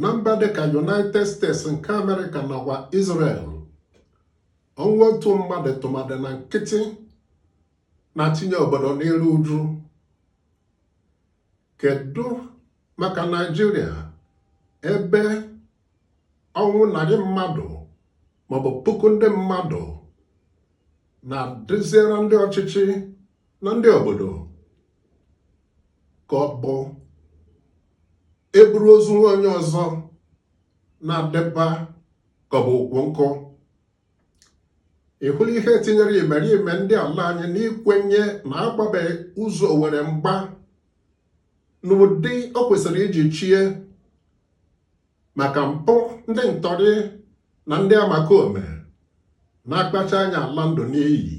na mba dịka United States nke Amerịka nakwa Israel ọnwụ otu mmadụ tụmadị na nkịtị na-etinye obodo n'iru uju kedu maka Naịjirịa ebe ọnwụ narị mmadụ maọbụ puku ndị mmadụ na-adịziri ndị ọchịchị na ndị obodo ka ọ bụ eburu ozu nwa onye ọzọ na-adịba ka ọ bụ ukwu nkụ ị hụla ihe tinyere imerime ndị ala anyị n'ikwenye na agbabeghị ụzọ owere mgba n'ụdị o kwesịrị iji chie maka mpụ ndị ntọrị na ndị omekome na-akpacha anya ala ndụ n'iyi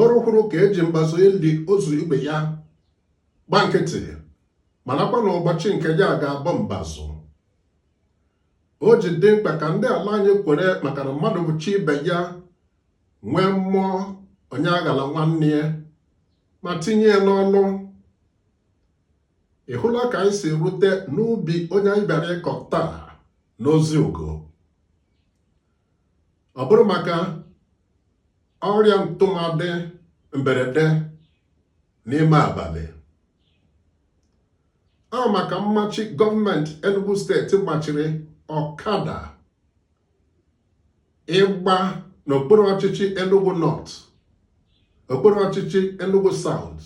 oru hụrụ ka e ji mbazụ eli ozu ibe ya gba nkịtị marakwa na ụbọchị nke ya ga-abụ mbazụ o ji dị mkpa ka ndị ala anyị kwere maka na mmadụ bụ chi ibe ya nwee mmụọ onye aghala nwanne ya ma tinye ya n'ọlụ ị hụla ka anyị si rute n'ubi onye anyị bịara ịkọ taa n'ozi ugo ọ bụrụ maka ọrịa ntụmadị mberede n'ime abalị ọ maka mmachi gọọmenti Enugu steeti machiri ọkada ịgba n'okpuru ọchịchị Enugu North okpuru ọchịchị Enugu South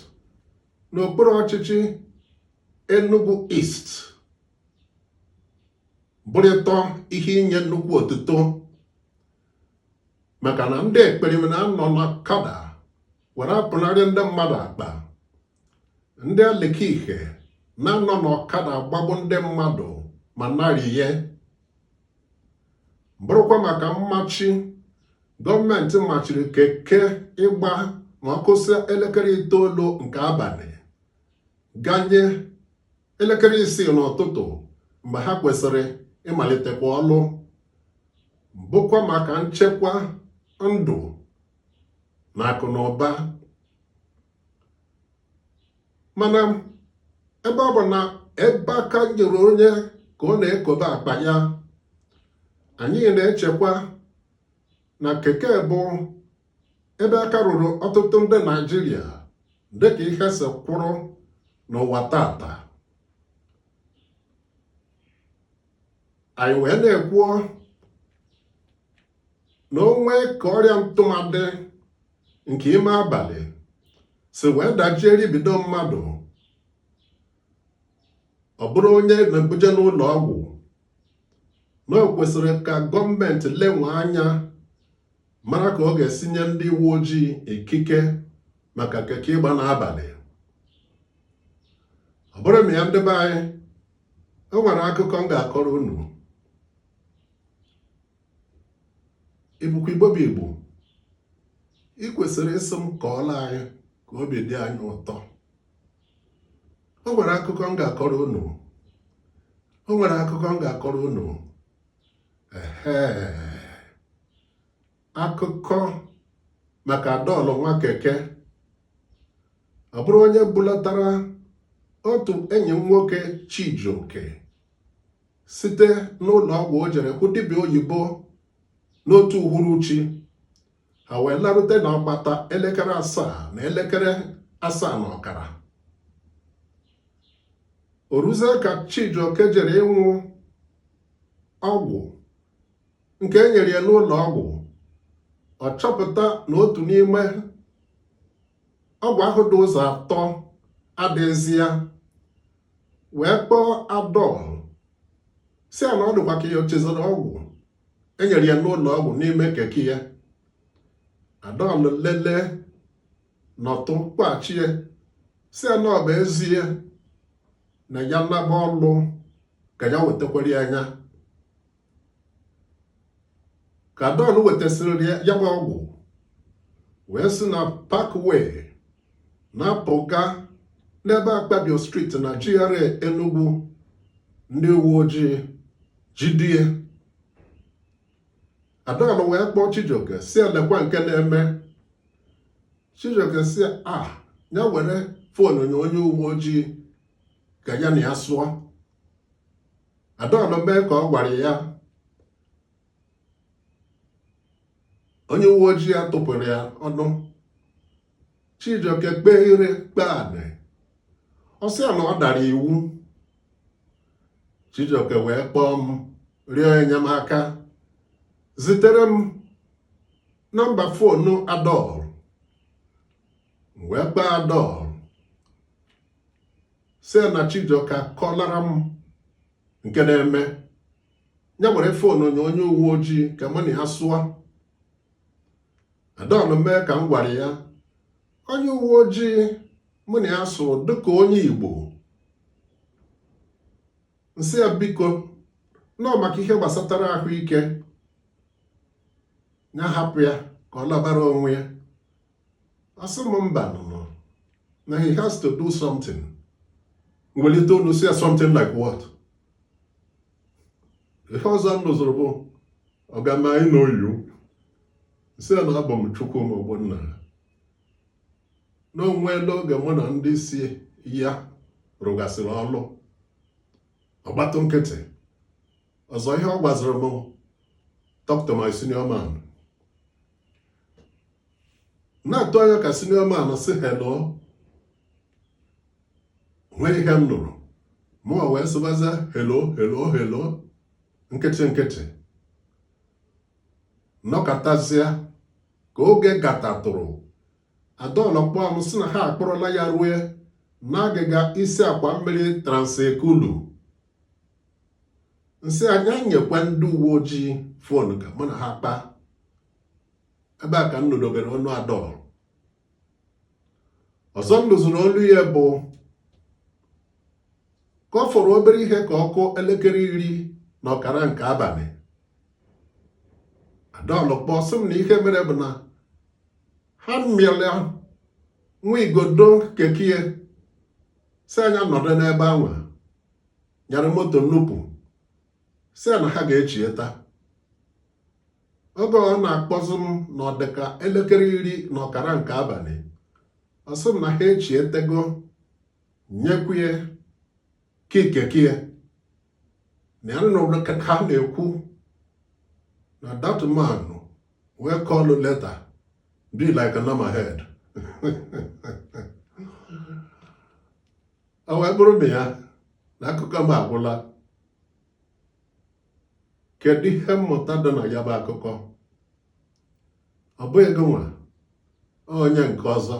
na okpuru ọchịchị Enugu East bụrịtọ ihe inye nnukwu otuto maka na ndị ekperima na-anọ n'ọkada were apụnarị ndị mmadụ akpa ndị alekike na-anọ n'ọkada agbagbu ndị mmadụ ma narịye bụrụkwa maka mmachi gọọmenti machiri keke ịgba ma ọ kụsịa elekere itoolu nke abalị ganye elekere isii n'ụtụtụ mgbe ha kwesịrị ịmalitekwa ọlụ bụkwa maka nchekwa ndụ na akụ na ụba mana ebe ọ bụ na ebe aka nyere onye ka ọ na-ekobe akpa ya anyị na-echekwa na keke bụ ebe aka rụrụ ọtụtụ ndị naijiria dịka ihe si kwụrụ n'ụwa tata anyị wee na-ekwuo na o nwee ka ọrịa ntụmadị nke ime abalị si wee dajie ribido mmadụ ọ bụrụ onye na-ebuje n'ụlọ ọgwụ na o kwesịrị ka gọọmenti lenwe anya mara ka ọ ga-esi nye ndị uwe ojii ikike maka keke ịgba n'abalị ọ bụrụ na ya ndị be anyị o nwere akụkọ m ga-akọrọ unu ị bụkwa igbo bụ igbo ị kwesịrị ịsị m kọọla anyị ka obi dị anyị ụtọ o nwere akụkọ m ga-akọrọ unu o nwere akụkọ m ga-akọrọ unu ehe akụkọ maka Adol nwa keke ọ bụrụ onye bulatara otu enyi m nwoke Chijioke site n'ụlọ ọgwụ o jere hụ dibịa oyibo n'otu uhuruchi ha wee larute n'agbata elekere asaa na elekere asaa na ọkara o ruzie ka Chijioke jere ịnwụ ọgwụ nke e nyere ya n'ụlọ ọgwụ ọ chọpụta na otu n'ime ọgwụ ahụ dị ụzọ atọ adịghịzi ya wee kpọọ Adol si ya na ọ dịkwa ka ya chezọrọ ọgwụ e nyere ya n'ụlọ ọgwụ n'ime keke ya Adol lelee nọtụ kpọchie si ya na ọ bụ ezie na ya naba ọlụ ka ya wetakwara ya ka Adol wetasịrị ya bụ ọgwụ wee si na Parkway na-apụga n'ebe akpabio street na GRA Enugu ndị uwe ojii jide ya Adol wee kpọọ Chijioke si ya lekwa nke na-eme Chijioke si ya ya were fon nye onye uwe ojii ka ya na ya sụọ Adol emee ka ọ gwara ya onye uwe ojii atụpụrụ ya ọnụ Chijioke kpee ire kpee anị ọ sị ya na ọ dara iwu Chijioke wee kpọọ m rịọ enyemaka zitere m nọmba fonu Adol m wee kpọọ Adol si ya na Chijioke kọlara m nke na-eme ya were fonu nye onye uwe ojii ka mụ na ya sụọ Adol mee ka m gwara ya onye uwe ojii mụ na ya so dịka onye Igbo m sị ya biko nọọ maka ihe gbasatara ahụike ya hapụ ya ka ọ labara onwe ya ọ sị m mba nụnụ na he has to do something m welite olu sị ya something like what ihe ọzọ m nụzụrụ bụ ọgama anyị na oyiwu m sị ya na abụ m Chukwuma Ọgbọnna na o nweela oge mụ na ndị isi ya rụgasịrị ọlụ ọ gbatụ nkịtị ọzọ ihe ọ gwaziri m talk to my senior man na-atụ anya ka senior man sị hello nwee ihe m nụrụ mụwa wee sịbazịa hello hello hello nkịtị nkịtị m nọkatazịa ka oge gatatụrụ Adol akpọọ m sị na ha akpọrọla ya rue n'agịga isi akwa mmiri Trans Ekulu m sị ya nya nyekwa ndị uwe ojii phone ka mụ na ha kpaa ebe a ka m nụdebere olu Adol ọzọ m nụzụrụ olu ya bụ ka ọ fọrọ obere ihe ka ọ kụọ elekere iri na ọkara nke abalị Adol kpọọ sị m na ihe mere bụ na ha amịala nwa igodo keke ya sị ya nya nọdụ n'ebe anwa nyara moto nnupụ si na ha ga-echieta oge ọ na-akpọzi m na ọ dịka elekere iri na ọkara nke abalị ọ sị m na ha echietego nyekwuo ya key keke ya na ya nụrụ ka ha na-ekwu na that man wey call later be like a number head o wee bụrụ na ya na akụkọ m agwụla kedu ihe mmụta dị na ya bụ akụkọ ọ bụghị gị nwa onye nke ọzọ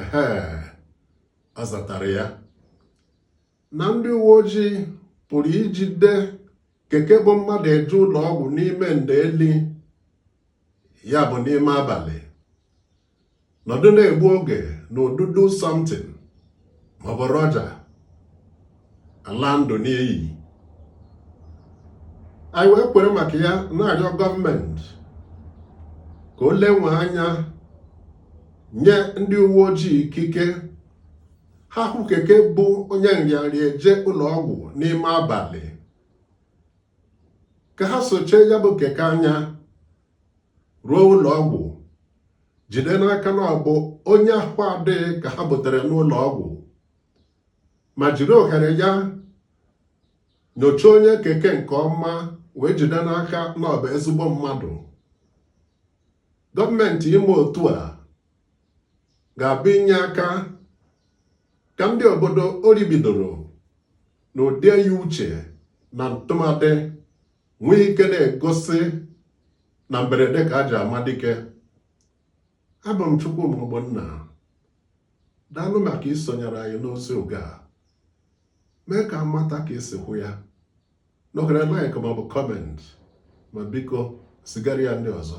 ehe ọ zatara ya na ndị uwe ojii pụrụ ijide keke bu mmadụ eje ụlọ ọgwụ n'ime ndeli ya bụ n'ime abalị nọdụ na-egbu oge n'ụdị do something maọbụ roja ala ndụ n'iyi anyị wee kwere maka ya na-arịọ gọọmenti ka o lenye anya nye ndị uwe ojii ikike ha hụ keke bu onye nrịanrịa eje ụlọ ọgwụ n'ime abalị ka ha sochie ya bụ keke anya ruo ụlọ ọgwụ jide n'aka na ọ bụ onye ahụ adịghị ka ha butere n'ụlọ ọgwụ ma jiri ohere ya nyochaa onye keke nke ọma wee jide n'aka na ọ bụ ezigbo mmadụ gọọmenti ime otu a ga-abụ inye aka ka ndị obodo ọrịa bidoro na ụdị eyi uche na ntụmadị nwee ike na-egosi na mberede ka e ji ama dike abụ m Chukwuma Ogbonna daalụ maka isonyere anyị n'ozi oge a mee ka a mata ka i si hụ ya nọgara like maọbụ kọment ma biko zigara ya ndị ọzọ